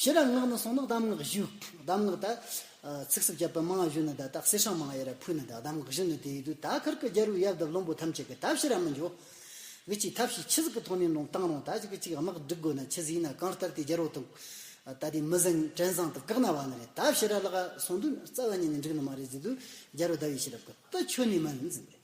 ཤེས་རབ་སྔགས་ནི་གསུང་ནི་གདམས་ངག་བཞི། གདམས་ངག་དག། ཚིག་སུབ་བརྒྱ་པོད་མང་བཞི་ནི་དག་དག་སྲི་ཞིང་མང་ཡེ་ར་ཕུད་ནི་དག་གདམས་ངག་བཞི་ནི་དེ་ཡི་དུས་ད་གར་གྱི་རྒྱལ་པོའི་ཡབ་དང་བློན་པོ་ཐམས་ཅད་ཀྱི་ཐབས་ཤེས་རབ་མི་འབྱོར། བི་ཅིའི་ཐབས་ཤེས་ཆི་ཟིག་གི་ཐོག་ནས་ནོངས་བཏང་རུང་ད་ཅིག་གི་ཅིག་དམག་བསྒྲིག་དགོས་ན་ཆི་ཟིག་ཡིན་ན་གང་ལྟར་དེ་རྒྱལ་པོ་དང། ད་ལྟའི་མི་བཟང་བྲན་བཟང་དང་བཀག་ན་བ་ནི་རེད་ཐབས་ཤེས་རབ་ལ་གསུང་དུས་ན་རྩ་བ་ཉིད་ནས་འགྲིག་ནི་མ་རེད་ཟེར་དུས་རྒྱལ་པོ་ཟླ་བའི་ཤེས་རབ་གི་རྟ་མཆོད་ནས་མ་འཛིན་པས།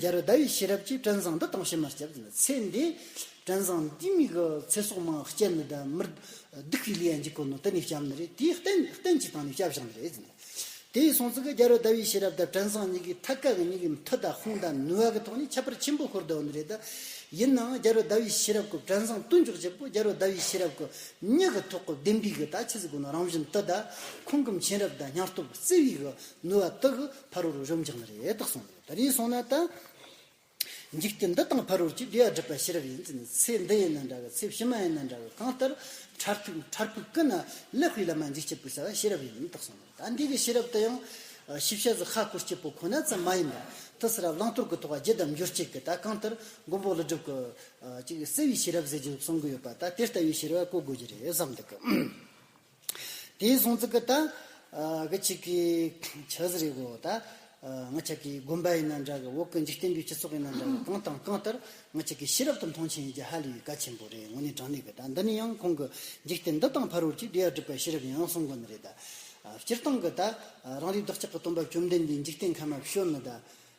རྒྱལ་རོལ་ཟླ་བའི་ཤེས་རབ་ཀྱིས་སྤྲིན་བཟང་འདི་དྭངས་ཤིང་མ་སྐྱེས་པ་ལ་ཚེ་འདས། སྤྲིན་བཟང་འདིས་མིག་གི་ཚེ་སྲོག་མང་བསྐྱེད་ནི་དེ་མིར་སྡུག་གི་ལས་ཡང་འཇིག་གོ་ནོ་དེ་ནི་སྐྱབས་ནི་རེད་དེས་རྟེན་རྟེན་གྱི་དང་ནི་སྐྱབས་བཞག་ནི་རེད། དེ་ཡི་སྲོང་ཚིག་གི་རྒྱལ་རོལ་ཟླ་བའི་ཤེས་རབ་དང་སྤྲིན་བཟང་གཉིས་ཀའི་ཐད་ཀ་གི་གཉིས་ཀའི་མཐུ་དང་དཔུང་དང་ནུས་བ་གི་ཐོག་ནས་ཁྱད་པར་ཆེན་པོ་ཤོར་འདོད་ནི་རེད། ཡིན་ནའང་རྒྱལ་རོལ་ཟླ་བའི་ཤེས་རབ་ཀྱི་སྤྲིན་བཟང་བསྟུན་འཇོག་བྱེད་པོ་རྒྱལ་རོལ་ཟླ་བའི་ཤེས་རབ་ཀྱི་མྱིག་གི་ཐོག་གི་ལྡེམ་པའི་གི་དག་ཁྱི་ཟིག་གོ་ནོ་རང་བཞིན་དུ་དག་ཁོང་གི་མཁྱེན་རབ་དང་སྙིང་སྟོབས་བརྩེ་བའི་གི་ནུས་བ་དག་གིས་ཕ་རོལ་རུ་ཤོམ་ཅིག་ན་རེ་དག་སོང་ནས་ད་རེས་སོང་ན་ད། འཇིག་རྟེན་འདི་དང་ཕ་རོལ་གྱི་འབྲེལ་བ་སྒྲིབ་པ་ཤེས་རབ་ཡིན་ཚེ་ནི་ཚེ་འདི་ཡིན་ན་འདྲ་གི་ཚེ་ཕྱི་མ་ཡིན་ན་འདྲ་གི་གང་ལྟར་ཁྲར་ཐུག་ཁྲར་ཕུག་ཀི་ན་ལེ་ཧྥི་ལ་མ་འཇིག་སྐྱེ་བུ་ཟ་བ་ཤེས་རབ་ཡིན་དག་སོང་ནས་ད་འདི་གི་ཤེས་རབ་དེ་ཡང། ཤི་བྱ་ཟི་ཧ་སྐོར་སྐྱེས་བུ་ཁོ་ན་ཙམ་མ་ཡིན་པར་ཏི་སི་ར་བླང་དོར་གི་ཐོག་བརྒྱད་བསྡམ་སྦྱོར་གཅིག་གི་ད་གང་ལྟར་མགོན་པོ་ཀླུ་སྒྲུབ་ཀྱིས་གསལ་བའི་ཤེས་རབ་ཟེར་གྱི་གསུང་གི་ཡོད་པ་ད་དེ་ལྟ་བུའི་ཤེས་རབ་བཀོད་དགོས་ཀྱི་རེད་བསམ་འདུག་གི། དེའི་གཟུངས་ཚིག་གི་དང། གི་ཆིག་གི། ཆགས་ཟིན་རིགས་འོ་ད། ང་ཅག་གི་དགོན་པ་ཡིན་ན་འདྲ་གི་འོག་གི་འཇིག་རྟེན་པའི་སྤྱི་ཚོགས་ཡིན་ན་འདྲ་གི་གང་དང་གང་ལྟར་ང་ཅག་གི་ཤེས་རབ་དང་མཐོང་ཆེན་ཡིན་གྱི་ཧ་ལས་པའི་བཀའ་ཆེན་པོ་རེད་ངོ་ནས་དྲང་གནས་གི་དང་འདི་ནི་ཡང་ཁོང་གི་འཇིག་རྟེན་འདི་དང་ཕར་འོར་གྱི་དུས་ཡག་སྒྲིབ་པ་ཤེས་རབ་ཡང་གསུངས་དགོས་ནི་རེད་ད། སྤྱིར་བཏང་གི་ད། རང་རིགས་བདག་ཅག་གི་སྟོན་པ་བཅོམ་ལྡན་འདས་འཇིག་རྟེན་ཁམས་མ་བྱོན་ནི་ད།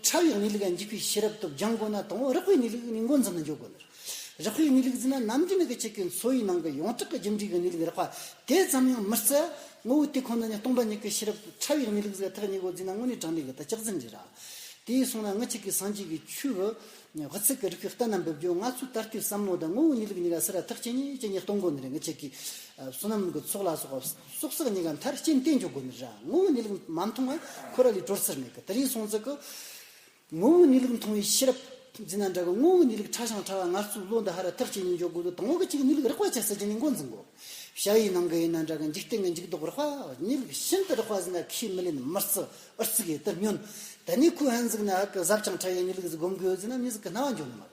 ཕྲ་བའི་གནས་ལུགས་ལ་འཇུག་པའི་ཤེས་རབ་སྟོབས་སྦྱང་དགོས་ན་དང་བོ་རགས་པའི་གནས་ལུགས་ནས་འགོ་འཛིན་ལ་འཇུག་དགོས། རགས་པའི་གནས་ལུགས་འཛིན་ན་ནམ་རྒྱུན་ནས་ཀྱི་ཆེ་གེ་མཚོ་ཡི་ནང་གི་ཡོངས་གྲགས་ཀྱི་རྒྱུ་འབྲས་ཀྱི་གནས་ལུགས་རགས་པ་དེ་ཙམ་ཡང་མི་རྩི། ངོ་བོ་དེ་ཁོ་ན་ནི་སྟོང་པ་ཉིད་ཀྱི་ཤེས་རབ་ཏུ་ཕྲ་བའི་གནས་ལུགས་བཟོས་ཐག་ཉེ་སྒོ་འཛིན་ན་དངོས་གནས་དྲང་བདེན་གྱི་དར་ལྕག་འཛིན་གྱི་ར། དེ་ཡིས་སོང་ན་ངི་ཆི་ཀའི་སངས་རྒྱས་ཀྱི་ཆོས། བྷི་ཚིག་གི་རིགས་ཀྱི་རྟ་རྣམས་འབུལ་རྒྱུ་ང་ཚོའི་ད་ལྟའི་བསམ་བློ་དང་ངོ་བོའི་གནས་ལུགས་གཉིས་ཀ་སེ་ར་ཐག་ཅན་གཉིས་ཅན་གཉིས་སྟོང་སྒོ་ནས་རེད་ངི་ཆི་ཀའི་བསོད་ནམས་ཀྱི་ཚོགས་ལ་སོགས་པ། སོག་སོག་གཉིས་ཀ་མཐར་སྐྱེན་བསྟེན་འཇོག་དགོས་ནི་ར་ངོ་བོ་ནི་ལུགས་མ་མཐོང་བས་ཁོ་ར་ལས་གྲོལ་ཚུལ་མེད་ཀི་དེ་རིང་སོང་ཚུལ་གི། ངོ་བོ་ནི་ལུགས་མཐོང་བའི་ཤེས་རབ་འཛིན་ན་འདྲ་གི་ངོ་བོ་ནི་ལུགས་ཕྲ་ཞིང་ཕྲ་བ་ངར་ཚུགས་ལོ་འདི་ཧ་ར་མཐར་སྐྱེན་གཉིས་འཇོག་དགོས་ལུགས་དང་བོ་གི་གཅིག་ནི་ལུགས་རགས་པ་ཆ་སྲིད་ཀྱི་ནི་མགོ་འཛིན་དགོས། བྱ་བའི་ནང་གི་ཡིན་ན་འདྲ་གི་འཇིག་རྟེན་གྱི་འཇིག་ལྡོག་རགས་པ་ནི་ལུགས་ཤིན་ཏུ་རགས་པ་ཟིན་ན་ཁས་མི་ལེན་མིར་བརྩི་ཨུར་བརྩི་གི་དེར་ཉོན། དེ་ནས་ཁོའི་ཧན་གཟུགས་ནི་ཧ་ཀི་གཟབ་ཅིང་ཕྲ་བས་ནི་ལུགས་ཟི་སྒོམ་དགོས་ཟིན་ན་མི་ཟི་ཀི་སྣང་བ་འཇོག་ནི་མ་རེད།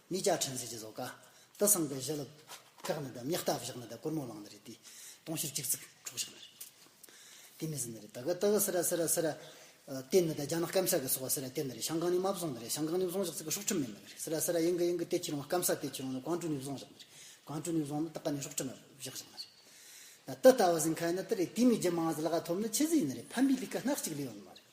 གཉིས་ཀྱག་ཕྲན་ཟས་ཀྱི་བཟོ་ཀ། དུ་སངས་པའི་བཞི་ལ། ཁག་ནི་དེ་མྱི་རྟ་བཞག་ནི་དེ་གུར་མོ་བླངས་ནི་རེད་དེ། སྟོང་ཤེར་གཅིག་ཚིག་འཕྲོག་བཞག་ནི་རེད། དེ་མི་ཟིན་ནི་རེད་ད་གི་ཏི་གི་སི་ར་སི་ར་སི་ར། ཏེ་ནི་དེ་རྒྱ་ནག་སྐམ་ས་གི་སོག་བ་སི་ར་ཏེ་ནི་རེད་ཤང་ཀང་ནི་མ་བཟུང་ནི་རེད་ཤང་ཀང་ནི་བཟུང་བཞག་ཚིག་གི་ཧྲོག་ཁྲིམས་མེད་ནི་རེད་སི་ར་སི་ར་ཡིན་གི་ཡིན་གི་ཏེ་ཁྱི་རོང་སྐམ་ས་ཏེ་ཁྱི་རོང་ནི་གང་དྲུག་ནི་བཟུང་བཞག་ནི་རེད་གང་དྲུག་ནི་བཟུང་ནི་ཏི་ཀ་ནི་ཧྲོག་ཁྲིམས་བཞག་བཞག་ནི་རེད། ད་ཏི་ལྟ་བ་ཟིན་ཁ་ཡིན་ནི་ཏི་རེད་དེ་མི་རྒྱུ་མང་ཟི་ལ་ག་ཐོབ་ནི་ཁྱི་ཟི་ཡིན་ནི་རེད་ཕན་པའི་ལི་ཀ་སྣག་གཅིག་ལི་ཡོད་ནི་མ་རེད།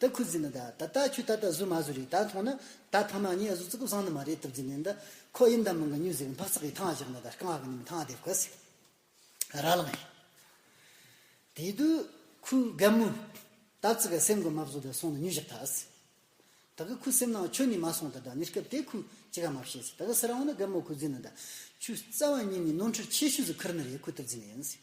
ད་ཁུ་རྫི་ནི་ད་ད་ལྟ་ཁྱོད་ད་ལྟ་བཟོས་མ་བཟོས་རེད་ད་མཐོང་ན་ད་ཕ་མ་ངས་བཟོ་ཙི་གུ་བཟང་ནི་མ་རེད་ཐུབ་རྫི་ནི་ད་ཁོ་ཡིན་ད་མི་འགའ་ཉུལ་ཟེར་གི་འཕག་ཚག་གིས་ཐང་བཞག་ན་ད་རྐང་བ་གི་ནི་མི་ཐང་དེ་གོ་ཟེར་གི་ར་ལངས་ཡོད། དེ་དུས་ཁུ་རྒན་མོས་ད་བཙི་ག་སེམས་གོ་མ་བཟོ་ད་སོང་ན་ཉུལ་བཞག་ད་ཟེར། ད་གི་ཁུ་སེམས་ནང་ཁྱོད་ནི་མ་སོང་ད་ད་ནི་སྐབས་དེ་ཁུ་ཅི་ག་མ་བཤད་ཟེར་ད་གི་སི་ར་འོང་ན་རྒན་མོ་ཁུ་རྫི་ནི་ད་ཆུ་རྩ་བ་ཉིད་ནི་ནོར་འཁྲུལ་ཆེ་ཤོས་སུ་ཁུར་ནི་རེད་ཁུ་ཐུབ་རྫི་ནི་ཡིན་ཟེར།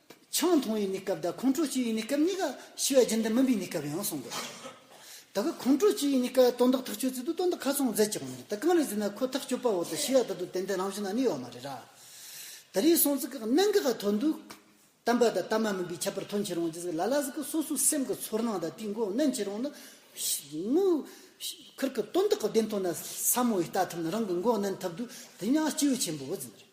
ཆང་འཐུང་བའི་གནས་སྐབས་དང་ཁོང་ཁྲོ་སྐྱེ་བའི་གནས་སྐབས་གཉིས་ཀ་ཤི་བ་རྒྱུན་དུ་སྨིན་པའི་གནས་སྐབས་ཡང་གསུངས་དགོས། ད་གི་ཁོང་ཁྲོ་སྐྱེ་བའི་གནས་སྐབས་དོན་དག་ཐག་ཆོད་ཚུལ་དུ་དོན་དག་ཁ་ཚོན་འཛེག་ཅི་དགོས་མི་འདུག་ད་གང་རེད་ཟེར་ན་ཁོ་ཐག་གཅོད་པ་འོག་ཏུ་ཤི་བ་ད་དུ་ཏན་ཏན་རང་བཞིན་ན་གནས་ཡོད་མ་རེད་ར། དེ་རིང་སོང་ཚིག་གི་གནད་འགག་ག་ཐོན་འདུག། བསྟན་པ་དང་བསྟན་མ་མིན་པའི་ཁྱད་པར་ཐོན་ཆེ་རུང་རྗེས་ལ་ལ་ཟིག་གི་སོ་སོའི་སེམས་ཀྱི་ཚོར་སྣང་དང་དེའི་འགོ་གནོན་ཆེ་རུང་ནི། དངུལཁུར་གི་དོན་དག་གི་བདེན་དོན་ལ་ས་མོ་བས་ལྟ་ཐུབ་ན་རང་གི་འགོ་གནོན་ཐུབ་འདུག་དེ་ཡང་སྐྱེས་བུ་ཆེན་པོ་འོད་ཟེར།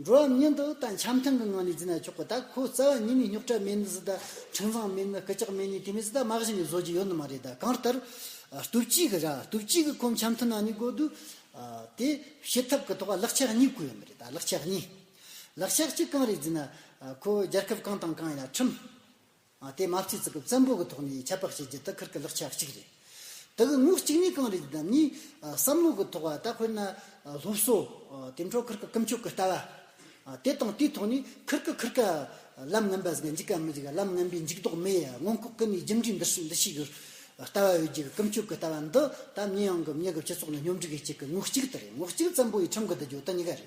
འགྲོ་བ་མིའི་འདི་ལྟ་འཆམ་མཐུན་གྱི་ངང་ནས་བརྫི་ན་ཆོག་གི་ད་ཁོ་རྩ་བ་ཉིད་ནས་རྙོག་དྲ་མེད་ནི་ཟི་ད་འཕྲིན་བཟང་མེད་ནི་སྐུ་ཅག་མེད་ནི་དེ་མི་ཟི་ད་མ་གཞི་ནས་བཟོ་རྒྱུ་ཡོད་ནི་མ་རེད་ད་གང་ལྟར། སྟོབས་གཅིག་གི་ར་སྟོབས་གཅིག་གི་ཁོ་འཆམ་མཐུན་ནང་ནས་དགོས་འདུག། དེ་བྱེད་ཐབས་ཀྱི་ཐོག་ལག་ཆགས་གཉིས་དགོས་ཡོད་མི་རེད་ད་ལག་ཆགས་གཉིས། ལག་ཆགས་གཅིག་གང་རེད་བརྫི་ན། ཁོ་རྒྱལ་ཁབ་གང་དང་གང་ཡིན་ན་ཁྲིམས། དེ་མ་སྐྱེས་ཙི་གུ་བཙན་པོ་གི་ཐོག་ནས་ཁྱད་པར་བྱེད་རྒྱུ་དག་ཁུར་གི་ལག་ཆ་གཅིག་རེད། དེ་གི་ངོ་གཅིག་ནི་གང་རེད་ཅེ་ན་ནི། བསམ་བློ་གི་ཐོག་ལྟ་དཔེར་ན། སློབ་གསོ། དེ་འཕྲོ་ཁུར་གི་ཀུན་སྤྱོད་ཀི་ལྟ་བ། དེ་དང་དེའི་ཐོག་ནས་ཁུར་གི་ཁུར་ག། ལམ་ངན་པ་ཟིག་ག་འཇིག་ག་མི་འཇིག་ག་ལམ་ངན་པའི་འཇིག་ལྡོག་མི་ཡི་མངོན་ལྐོག་ཀི་ནས་རྒྱུ་འབྲས་འདི་ཤེས་འདི་ཤེས་གི། ལྟ་བ་ཡོད་རྒྱུ་གི་ཀུན་སྤྱོད་ཀི་ལྟ་བ་འདི་ད་མྱི་ཡང་གི་མྱི་གི་སྤྱི་ཚོགས་ནས་སྙོམས་སྒྲིག་གི་བྱེད་ཀི་ངོ་གཅིག་དེ་རེད་ངོ་གཅིག་བཙན་པོ་ཡི་ཁྲིམས་གི་འདི་ཇོ་དི་གཉིས་ཀ་རེད།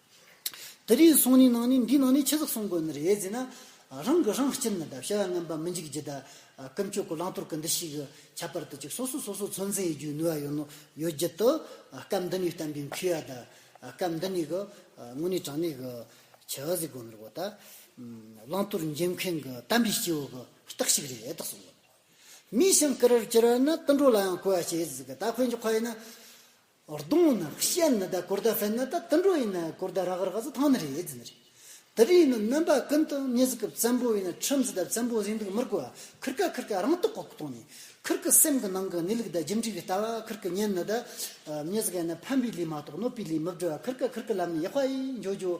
དེ་རིང་གསུང་རིང་ནང་ནས་འདིའི་ནང་ནས་ཆེ་ཙག་གསུང་དགོས་ནི་རེད་ཟེར་ན། རང་གི་རང་སྤྱིར་ནི་དག་བྱ་བ་ངན་པ་མི་འཇིག་ཇི་ལྟ། ཀུན་སྤྱོད་གོ་ལངས་དོར་གི་འདི་ཞིག་ཁྱད་པར་དུ་ཅིག་སོ་སོ་སོ་སོ་ཚོད་འཛིན་ཡི་རྒྱུའི་ནུས་བ་ཡོད་ནོ་ཡོད་བརྒྱུད་དུ། སྐབས་འདི་ནས་བསྟན་པའི་མཁས་ཡ་དག་སྐབས་འདི་ནས་གི། དངོས་གནས་དྲང་གནས་གི། ཆེ་བ་ཟིག་དགོས་ནི་རེད་བོ་ད། བླང་དོར་འཇལ་མཁན་གི་བསྟན་པའི་སྐྱེ་བོ་གི་རྟགས་ཤིག་རེད་དག་གསུང་དགོས། མིའི་སེམས་ཀི་རེར་གྱུར་བ་ནི་དུད་འགྲོ་ལའང་གོ་བ་བྱེད་ཟིག་གི་ད་ཁོས་འཇོག་ཁ་ཡིན་ན། གདོང་ནི་ཤེལ་ནི་ད་གོར་ད་ཧྥན་ནི་ད་དུད་འགྲོ་ཡིན་ན་གོར་ད་རག་རག་ཟི་ཐང་ནི་རེད་ཟི་ནི་རེད། དུད་རིགས་ནི་སྣོན་པ་ཀུན་ཏུ་གཉིས་ཟི་ཀི་བཙན་པོ་ཡིན་ན་ཁྲིམས་ཟི་ད་བཙན་པོ་ཟིན་འདུག་མི་རྒོལ་བ་ཁིར་ཀ་ཁིར་ཀ་རང་རྟོགས་ཁོག་གཏོང་ནི་ཁིར་ཀི་སེམས་ཀི་ནང་གི་གནས་ལུགས་ད་ཇི་འདྲི་གི་ལྟ་བ་ཁིར་ཀི་གཉེན་ནི་ད་གཉིས་ཟི་ཀ་ཡིན་ན་ཕན་པའི་ལུས་མ་གཏོགས་གནོད་པའི་ལུས་མི་བསྒྲུ་བ་ཁིར་ཀ་ཁིར་ཀི་ལམ་ནི་ཡག་པ་ཡིན་འཇོག་འཇོག།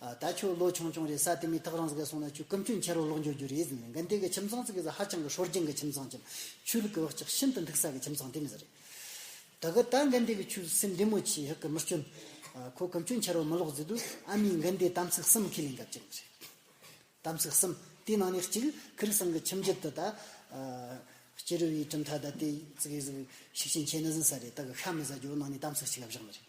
ད་ཁྱོད་ལོ་ཆུང་ཆུང་རེད་ས་དེ་མིན་ཐག་རིང་ཟིག་སོང་ན་ཁྱོད་སྐུ་མཆོད་འཁྱེར་རོ་ལོག་འབྱོར་རྒྱུ་རེད་ཟེར་ནས་འགན་དེ་གི་ཁྱིམ་ཚང་ཚིག་གི་ཟ་ཧ་ཅང་གི་ཧྲོལ་རྒྱན་གི་ཁྱིམ་ཚང་ཁྱིམ་ཆུ་ལི་གི་བག་ཆགས་ཤིན་ཏུ་འཐུག་ས་གི་ཁྱིམ་ཚང་དེ་མི་ཟེར། ད་གི་ད་འགན་དེ་གི་ཁྱོད་སེམས་བདེ་མོ་ཆེ་ཧི་གི་མི་སྐྱོན། ཁོ་སྐུ་མཆོད་འཁྱེར་རོ་མི་ལོག་ཟེར་དུས་ཨ་མའི་འགན་དེ་དམ་ཚིག་གསུམ་ཁས་ལེན་ག་བཅད་ནི་རེད། དམ་ཚིག་གསུམ་དེའི་ནང་ནས་གཅིག་ཁི་རི་སང་གི་ཁྱིམ་རྒྱུད་དུ་ད་སྐྱེ་རུ་བའི་གྲུབ་མཐའ་ད་དེ་ཚིག་གི་ཟིག་ཤུགས་ཆེན་ཁྱེད་ནི་ཟིན་ས་རེད་ད་གི་ཤ་མི་ཟ་རྒྱུ་ནང་ནས་དམ་ཚིག་གཅིག་ག་བཞག་ནི་རེད།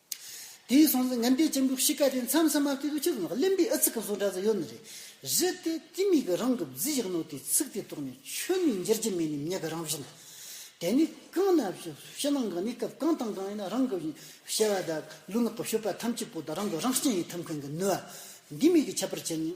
དེའི་སོང་ཚེ་ངན་པའི་གཅེན་པོ་བཤིག་ཀ་དེ་མཚམས་མཚམས་མ་ཕེབས་པའི་ཕྱིར་ངག་ལེན་པའི་ཨ་ཚིག་གི་བཟོ་འདྲ་ཙམ་ཡོད་ནི་རེད། གཞི་དེ་དེ་མིག་གི་རང་གི་རྫི་ཞིག་ནོ་དེའི་ཚིག་དེ་རྟོགས་ནས་ཆོས་ནི་འགྱུར་གྱི་མེད་ནི་མྱི་གི་རང་བཞིན། དེ་ནི་གང་ན་ཕྱི་ནང་གི་གནས་སྐབས་གང་དང་གང་ཡིན་རང་གི་བྱ་བ་དང་ལུས་ངག་གི་ཤུགས་པ་ཐམས་ཅད་པོ་དང་རང་གི་རང་སྐྱེན་ཡི་དམ་མཁན་གྱི་ནུས་པ་འདི་མིག་གིས་ཁྱབ་པར་བྱས་ནས་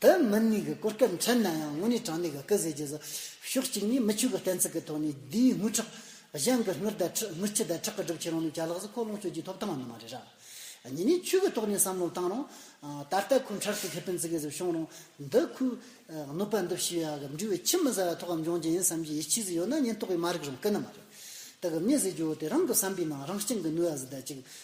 དེ་མིན་ནས་གི་གོ་སྐབས་འཕྲད་ན་ཡང་ངོ་ནས་དྲང་ནས་གི་སྐུ་ཟེར་རྒྱུ་ཟད། ཕྱོགས་གཅིག་ནས་མི་ཆོས་ཀི་གཏན་ཚིགས་ཀི་ཐོག་ནས་དེའི་དངུལ་ཁྲག། གཞན་གི་དངུལ་དང་ཁྲི་དངུལ་ཁྱི་དང་ཁྲག་གི་སྒྲུབ་བྱེད་རང་ལུགས་བྱ་ལགས་སུ་ཁོ་ལོངས་སྤྱོད་ཀྱི་ཐོབ་ཐང་ནི་མ་རེད་ར། གཉིས་ནས་ཆོས་ཀི་ཐོག་ནས་བསམ་བློ་བཏང་རུང། ད་ལྟ་ཁོ་འཕྲལ་དུ་ཁེ་ཕན་བརྩི་གི་ཟིག་བྱུང་རུང། འདི་ཁོས། གནོད་པ་འདི་ཕྱི་ཡ་གི་འབྲི་བའི་ཁྱི་མི་ཟ་བ་ཐོག་ཨམ་འབྱུང་ཅན་ཡིན་བསམ་གྱི་ཡིད་ཆེས་ཟིག་ཡོད་ན་ཉེན་རྟོག་གི་མ་རིག་རུང་ཀི་ནི་མ་རེད། དེ་གི་མི་ཟེར་རྒྱུ་བོ་དེ་རང་གི་བསམ་པའི་ནང་རང་སྐྱིང་གི་ནུས་བ་ཟིག་ད་ཅིག།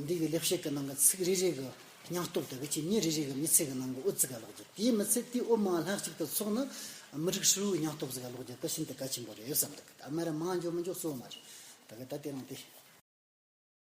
འདི་གི་ལེགས་བཤད་ཀྱི་ནང་གི་ཚིག་རེ་རེ་གི་སྙིང་སྟོབས་དང་བེད་སྤྱོད་ཉིན་རེ་རེ་གི་མི་ཚེ་གི་ནང་གི་དབུ་རྩེ་ག་ལོག་རྒྱུ་དེའི་མི་ཚེ་དེའི་དབུ་མ་ལྷག་ཅིག་ཏུ་ཚོགས་ནི་མི་རིགས་ཧྲིལ་བོའི་སྙིང་སྟོབས་ག་ལོག་རྒྱུ་དེ་ཤིན་ཏུ་གལ་ཆེན་པོ་རེད་བསམ་འདུག་གི་ད་སྨད་ར་མང་འཇོག་མི་འཇོག་གཙོ་བོ་མ་རེད་ད་གི་ད་དེ་རང་དེ།